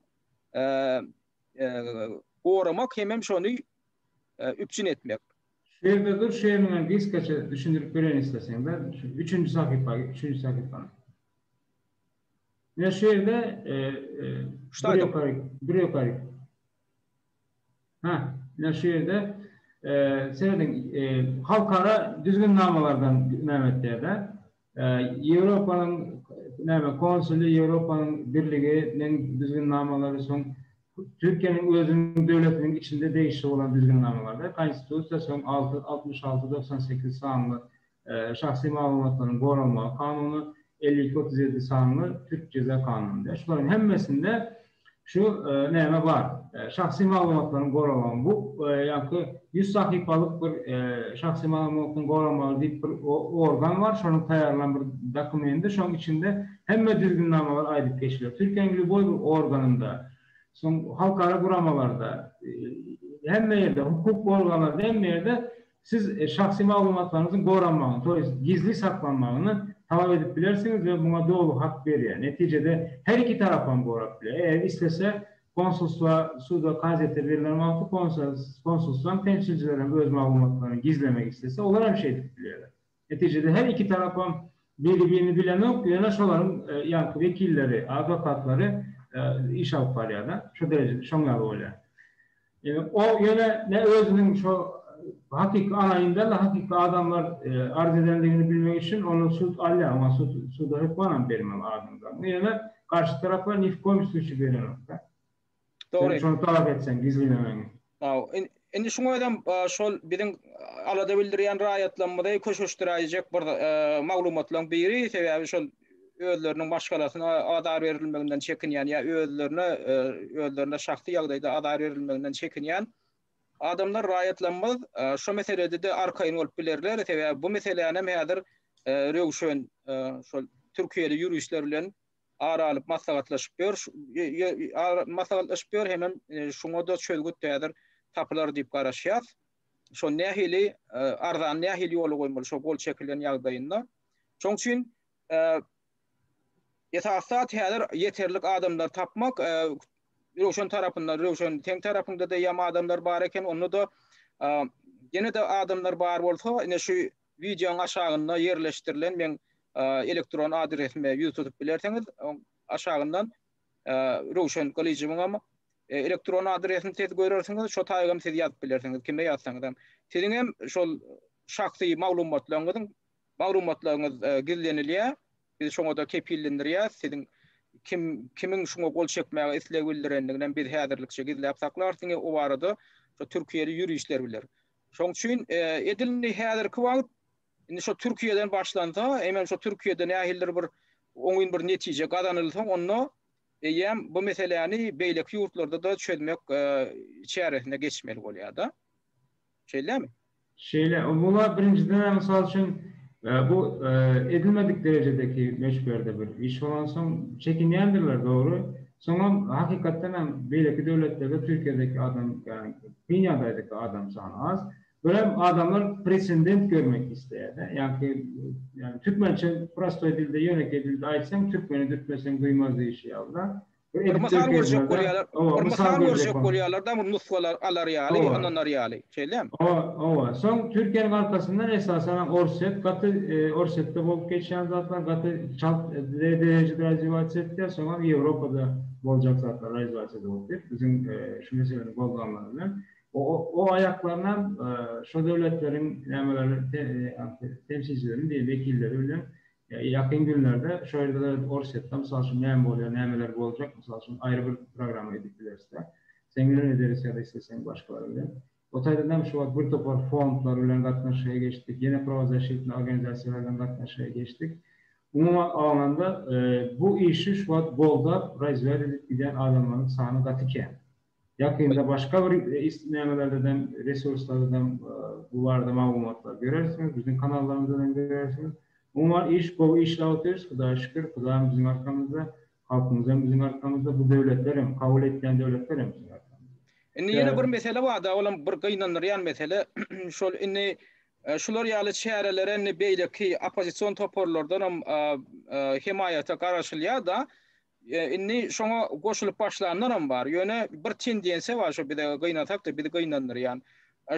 goramak hemem şony üpjün etmek. Şu ýerde dur, şu ýeriňden gysgaça düşündirip bereýin isleseň-de, şu üçünji sahypa git, üçünji sahypany. Ine şu ýerde bir ýokary, bir ýokary. Ha, ine şu ýerde serediň, halkara düzgünnamalardan näme etýär-de, Ýewropanyň näme konsuly, Ýewropanyň birliginiň düzgünnamalary, soň Türkiýäniň özüniň döwletiniň içinde degişli bolan düzgünnamalarda, Konstitusiýa, soň altmyş alty, togsan sekiz sanly Şahsy maglumatlaryň goralmagy kanuny, elli iki otuz ýedi sanly Türk jeza kanuny. Şularyň hemmesinde şu näme bar? Şahsy maglumatlaryň goralmagy. Bu ýaňky ýüz sahypalyk bir şahsy maglumatlaryň goralmagy diýip bir organ bar, şonuň taýýarlan bir dokumendi, şonuň içinde hemme düzgünnamalar aýdyp geçiler. Türkiýäniň lýuboý bir organynda, soň halkara guramalarda, hemme ýerde, hukuk organlarynda, hemme ýerde Siz şahsy maglumatlaryňyzyň goranmagyny, to ýest, gizli saklanmagyny talap edip bilersiňiz we muňa doly hak berýär. Netijede, her iki tarapam gorap biler. Eger islese, konsulstwa, suda, kazyýete berlen wagty konsulstwaň temsilçileri hem öz maglumatlaryny gizlemek islese, olar hem şeýdip bilýärler. Netijede her iki tarapam biri-birini bilenok, ýöne şolaryň ýaňky wekilleri, adwokatlary iş alyp barýar-da, şo derejede şoň ýaly bolýar. Ol ýöne ne özüniň şo hakyky alaýyndan-da hakyky adamlar arz edendigini bilmek üçin ondan sud alýar, oňa suda hökmanam bermeli adamlaryny, ýöne garşy taraplar ni w koýum slusýe berenok-da. Dogry. Sen şony talap etseň, gizlinemegiň. Indi şuň özem şol biziň alada bildirýän raýatlarymyzy köşeşdiräýjek bir maglumatlaryň biri, sebäbi şol özleriniň maşgalasyna azar berilmeginden çekinýän ýa özlerine, özlerine şahsy ýagdaýda azar berilmeginden çekinýän adamlar, raýatlarymyz şu meselede-de arkaýyn bolup bilerler, sebäbi bu meselänem häzir Röwşen şol türkiýeli ýuristler bilen ara alyp maslahatlaşyp ýör, maslahatlaşyp ýör hemem şuňa-da çözgüt häzir tapylar diýip garaşýas. Şo nähili arzany nähili ýola goýmaly şo gol çekilen ýagdaýynda. Şoň üçin esasy zat häzir ýeterlik adamlary tapmak, Röwşen tarapynda, Röwşen seň tarapyňda-da ýam adamlar bar eken, onda-da ýene-de adamlar bar bolsa, ine şu Wideoň aşagynda ýerleşdirilen meň elektron adresime ýüz tutup bilersiňiz. Aşagyndan Röwşen Gylyjowyňam elektron adresini siz görersiňiz, şo taýygam siz ýazyp bilersiňiz, kime ýazsaňyzam. Siziň hem şol şahsy maglumatlaryňyzyň maglumatlaryňyz gizlenilýär. Biz şoňa-da kepillendirýäris. Siziň kim kimiň şuňa gol çekmäge isleg bildirendiginem biz häzirlikçe gizläp saklarys. Diňe o barada türkiýeli ýuristler biler. Şoň üçin edil indi häzirki wagt indi şo Türkiýeden başlansa, eýmem şo Türkiýede nähilidir bir oňyn bir netije gazanylsa, onda eýýäm bu meseläni beýleki ýurtlarda-da çözmek çäresine geçmeli bolýar-da. Şeýdämi? Şeýle. Muňa birinjiden-ä, mysal üçin, bu edilmedik derejedeki möçberde bir iş bolansoň, çekinýändirler, dogry. Soňam hakykatdan hem beýleki döwletlerde Türkiýedeki adam ýagny kyn ýagdaýdaky adam sany az. Görem adamlar precendent görmek isleýärde. Ýagky ýagny türkmençe prostoý dilde ýönekeý dilde aýtsaň türkmeni dürtmeseň duýmaz diýişi ýaly zat. Bir edip görkezmezler. Owa mysal görjek bolýarlar. Bir mysal görjek bolýarlar da bir nusgalar alar ýaly ynanyr ýaly. Şeýdem. Oba, soň Türkiýäniň arkasyndan esasanam Orsýet gaty Orsýetde bolup geçýän zatlar gaty çalt derejede realizasiýa etdiler, soňam Ýewropada boljak zatlar realizasiýa edip otyrk biziň şu meseleni gozganlary bilen. O aýaklarynam şo döwletleriň nämeleri temsilcilerimi diýen wekilleri bilen Ýakyn günlerde şu ýerde-de Orsýetde, mysal üçin, näme bolýar, nämeler boljak, mysal üçin, aýry bir programma edip bileris-de. Seň bilen ederis ýa-da isleseň başgalar bilen. O taýdan hem şu wagt bir topar fondlar bilen gatnaşyga geçdik, ýene prawozasşitni organizasiýalar bilen gatnaşyga geçdik. Umuman alnanda, bu işi şu wagt goldap, razwýat edip gidýän adamlaryň sany gaty kän. Ýakynda başga bir nämelerden, resurslardan bu barada maglumatlar görersiňiz, biziň kanallarymyzdan hem görersiňiz. Umuman iş gowy işläp otyrys, Hudaýa şükür, Hudaýam biziň arkamyzda, halkymyzam biziň arkamyzda, bu döwletler hem, kabul etýän döwletler hem biziň arkamyzda. Indi ýene bir mesele barda, olam bir gynandyrýan mesele, şol indi şular ýaly çärelere indi beýleki oppozision toparlardanam hemaýata garaşylýar-da, Indi şoňa goşulyp başlanlaram bar. Ýöne bir tendensiýa bar şu bize gynasak-da, bizi gynandyrýan.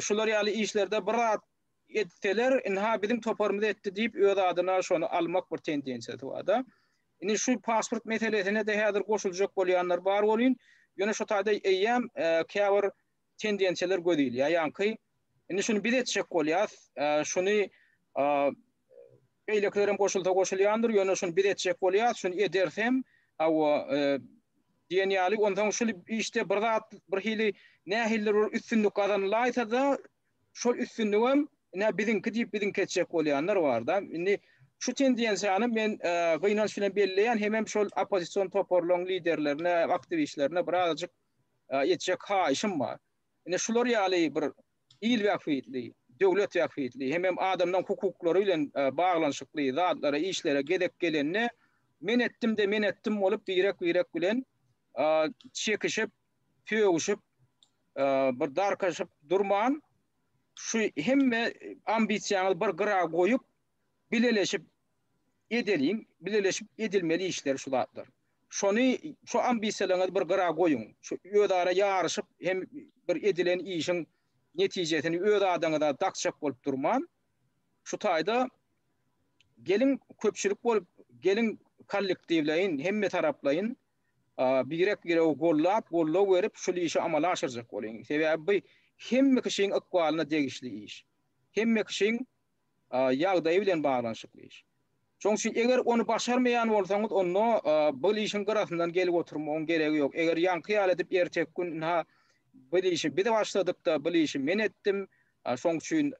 Şular ýaly işlerde bir zat etseler, ynha biziň toparymyz etdi diýip öz adyna şony almak bir tendensiýasy bar-da. Indi şu pasport meselesine-de häzir goşuljak bolýanlar bar welin, ýöne şu taýda eýýäm käbir tendensiýalar göz ilýär. Ýaňky indi şuny biz etjek bolýarys, şuny Beýlekilerem goşulsa goşulýandyr, ýöne şuny biz etjek bolýarys, şuny ederis hem, hawa, diýen ýaly, onsoň şul işde bir zat, birhili, nähilidir bir üstünlik gazanylaýsa-da, şol üstünligem, ine, biziňki diýip, biziňki etjek bolýanlar bar-da. Indi şu tendensiýany men gynanç bilen belleýän, hemem şol oppozision toparlaryň liderlerine, aktiwistlerine birazajyk etjek haýyşym bar. Ine, şular ýaly bir il bähbitli, döwlet bähbitli, hemem adamlaryň hukuklary bilen baglanyşykly zatlara, işlere gezek gelende, men etdim-de, men etdim bolup, birek-birek bilen çekişip, sögüşip, bir darkaşyp durman, şu hemme ambisiýaňyzy bir gyra goýup, bileleşip edeliň, bileleşip edilmeli işler şu zatlar. Şony şu ambisiýalaryňyzy bir gyra goýuň, şu özara ýaryşyp hem bir edilen işiň netijesini öz adyňyza dakjak bolup durman, şu taýda geliň köpçülik bolup, geliň kollektiwleýin, hemmetaraplaýyn birek-biregi gollap, goldaw berip şul işi amala aşyrjak boluň. Sebäbi bu hemme kişiň ykbalyna degişli iş. Hemme kişiň ýagdaýy bilen baglanyşykly iş. Şonuň üçin eger ony başarmaýan bolsaňyz, onda bil işiň gyrasyndan gelip oturmagyň geregi ýok. Eger ýaňky ýaly edip erteki gün ynha bil işi biz başladyk-da, bil işi men etdim, şonuň üçin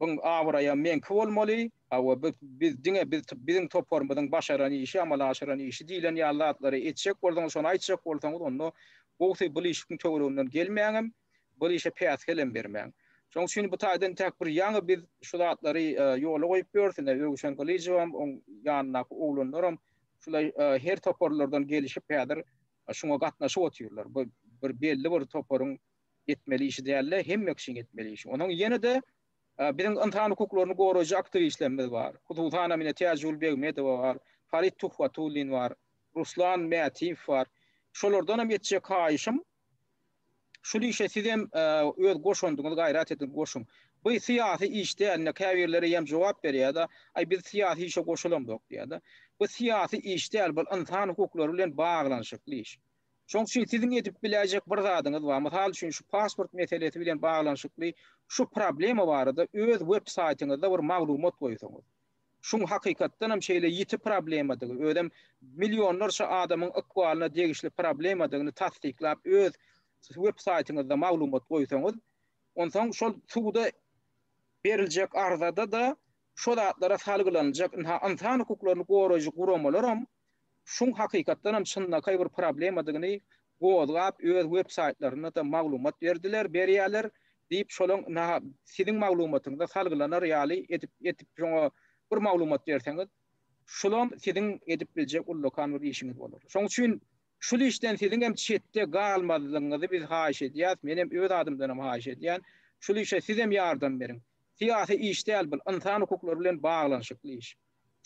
buň abraýam meňki bolmaly, hawa biz diňe biziň toparymyzyň başaran işi, amala aşyran işi diýlen ýaly zatlary etjek bolsaňyz, şony aýtjak bolsaňyz, onda gowusy bil işiň töwereginden gelmäňem. Bu işe päsgel hem bermäň. Şonuň üçin bu taýdan entäk bir ýaňy biz şu zatlary ýola goýup ýörüs, ine, Öwüşen Gylyjowam, oň ýanyndaky oglanlaram şulaý her toparlardan gelişip häzir şuňa gatnaşyp otyrlar. Bu bir belli bir toparyň etmeli işi däl-de, hemme kişiň etmeli işi. Onuň ýene-de biziň ynsan hukuklaryny goraýjy aktiwistlerimiz bar. Hususan hem ine Täjigül Begmedowa bar, Farid Tuhwatullin bar, Ruslan Mätiýew bar. Şolardan hem etjek haýyşym, Şul işe sizem öz goşandyňyz gaýrat edip goşuň. By syýasy iş däl indi käbirleri ýem jogap berýäda aý biz syýasy işe goşulamzok diýýäda. Bu syýasy iş däl bul ynsan hukuklary bilen baglanyşykly iş. Şoň üçin siziň edip biläýjek bir zadyňyz bar mysal üçin şu pasport meselesi bilen baglanyşykly şu problema barada öz web saýtyňyzda bir maglumat goýsaňyz. Şuň hakykatdanam şeýle ýiti problemadygy, özem millionlarça adamyň ykbalyna degişli problemadygyny tassyklap öz web saýtyňyzda maglumat goýsaňyz, onsoň şol suda beriljek arzada-da şo zatlara salgylanyljak ynha ynsan hukuklaryny goraýjy guramalaram şuň hakykatdan hem çynlakaý bir problemadygyny gozgap öz web saýtlarynda-da maglumat berdiler, berýärler diýip şolaň siziň maglumatyňyza salgylanar ýaly edip edip şoňa bir maglumat berseňiz şulam siziň edip biljek ullakan bir işiňiz bolar. Şoň üçin şul işden siziň hem çetde galmazlygyňyzy biz haýyş edýäs, men hem öz adymdan hem haýyş edýän. Şul işe sizem ýardam beriň. Syýasy iş däl bul, ynsan hukuklary bilen baglanyşykly iş.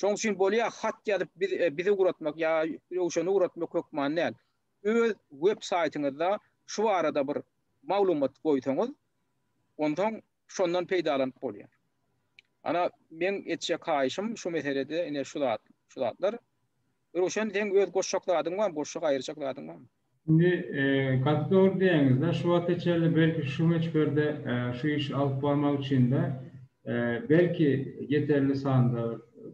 Şoň üçin bolýar hat ýazyp biz bizi ugratmak ýa Röwşeni ugratmak hökman däl. Öz web saýtyňyzda şu barada bir maglumat goýsaňyz onsoň şondan peýdalanyp bolýar. Ana meň etjek haýyşym şu meselede ine şu zatlar. Röwşen seň öz goşjak zadyň barmy goşjak aýyrjak zadyň barmy? Indi gaty dogry diýýäňizde şu wagta çenli belki şu möçberde şu işi alyp barmak üçinde belki ýeterli sanda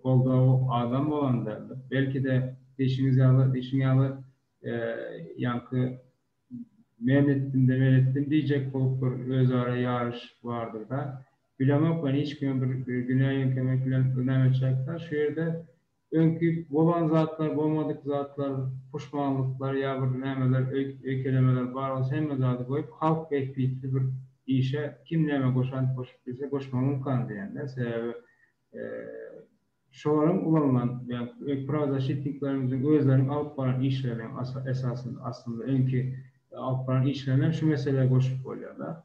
goldaw adam bolan däldir. Belkide diýşiňiz ýaly diýşiň ýaly ýaňky men etdimde men etdim diýjek bolup bir özara ýaryş bardyrda bilemok men hiç kime bir günä ýeňkemek bilen näme etjek şu ýerde Öňki bolan zatlar, bolmadyk zatlar, puşmanlyklar ýa bir nämeler, öýkelemeler bar bolsa hemme zady goýup, halk bähbitli bir işe kim näme goşant goşup bilse goşmagyň ymkany diýenler. Sebäbi şolar hem ulalman ýa prawozaşitniklerimiziň özleriniň alyp baran işleriniň esasynda aslynda öňki alyp baran işlerini hem şu meselä goşup bolýar-da.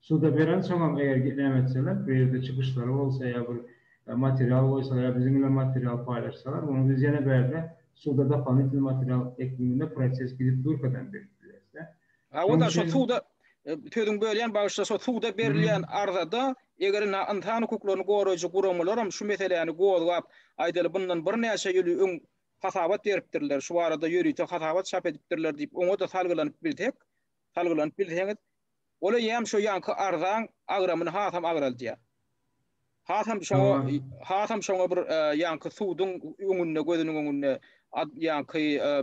Suda berensoňam eger näme etseler, bu ýerde çykyşlary bolsa ýa bir material goýsalar ýa biziň bilen material paýlaşsalar, muny biz ýene bärde suda dopolitnýy material ekminde proses gidip durkadan berip bileris-dä. Hawa-da, şo suda, sözüňi bölýän, bagyşla, şo suda berilýän arzada, eger indi ynsan hukuklaryny goraýjy guramalaram şu meseläni gozgap, aýdaly, bundan birnäçe ýyl öň hasabat beripdirler, şu barada ýörite hasabat çap edipdirler diýip, oňa-da salgylanyp bilsek, salgylanyp bilseňiz, ol eýýäm şo ýanky arzaň agramyny hasam agraldýar. Hasam şoňa, hasam şoňa bir ýanky suduň öňünde, gözüniň öňünde ýanky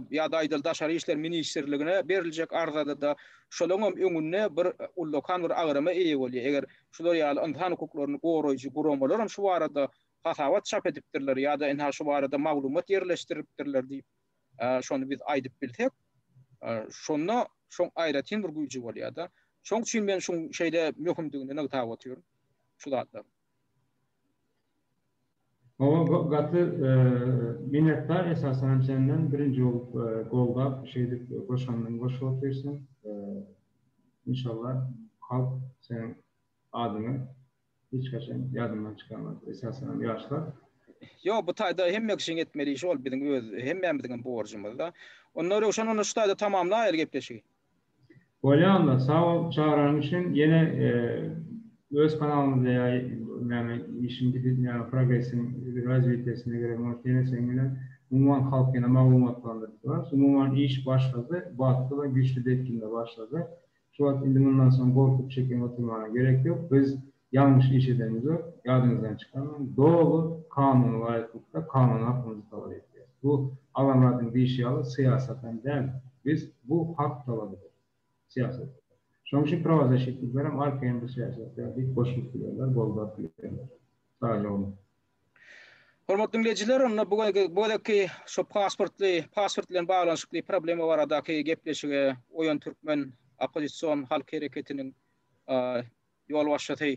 ýa-da aýdaly Daşary işler ministrligine beriljek arzada-da şolaň hem öňünde bir ullakan bir agrama eýe bolýar. Eger şular ýaly ynsan hukuklaryny goraýjy guramalar hem şu barada hasabat çap edipdirler ýa-da ynha şu barada maglumat ýerleşdiripdirler diýip, şony biz aýdyp bilsek, şonda şoň aýratyn bir güýji bolýar-da. Şoň üçin men şuň şeýle möhümdigini nygtap otyryn, şu zatlaryň. Hawa, gaty minnetdar esasan senden birinji bolup goldap şeýdip goşandyň goşup otyrsyň. Inşallah halk seniň adyňy Hiç haçan ýadymdan çykarmaz. Esasanam ýaşlar. Ýok, bu taýda hemme kişiň etmeli işi ol biziň öz hemmämiziňem borjumyzda. Onda Röwşen onda şu taýda tamamlaýaly gepleşigi. Bolýa onda, sag bol çagyranyň üçin. Ýene öz kanalymyzda ýa näme işiň gidýän progresiň razwitiýasyna gerek bolsa ýene seň bilen umuman halk ýene maglumatlandyryp durarys. Umuman iş başlady, batly we güýçli depginde başlady. Şu wagt indi mundan soň gorkup çekiniň oturmana gerek ýok. Biz ýalňyş iş edenizok, ýadyňyzdan çykarmaň. Doly kanuna laýyklykda kanun hakymyzy talap edýäris. Bu Alamradyň diýşi ýaly syýasatam däl. Biz bu hak talabydyr. Syýasat. Şonuň üçin prawazaşitniklerem arkaýyn bu syýasatda diýip goşulyp bilerler, goldaryp bilerler. Sagja bolun. Hormatly diňleýjiler, onda bu gezekki şu pasportly, pasport bilen baglanyşykly problema baradaky gepleşige Oýan türkmen oppozision halk hereketiniň ýolbaşçysy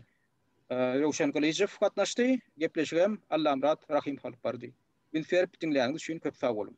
Röwşen Gylyjow gatnaşdy. Gepleşigi hem Allamyrat Rahym alyp bardy. Üns berip diňläniňiz üçin köp sag boluň!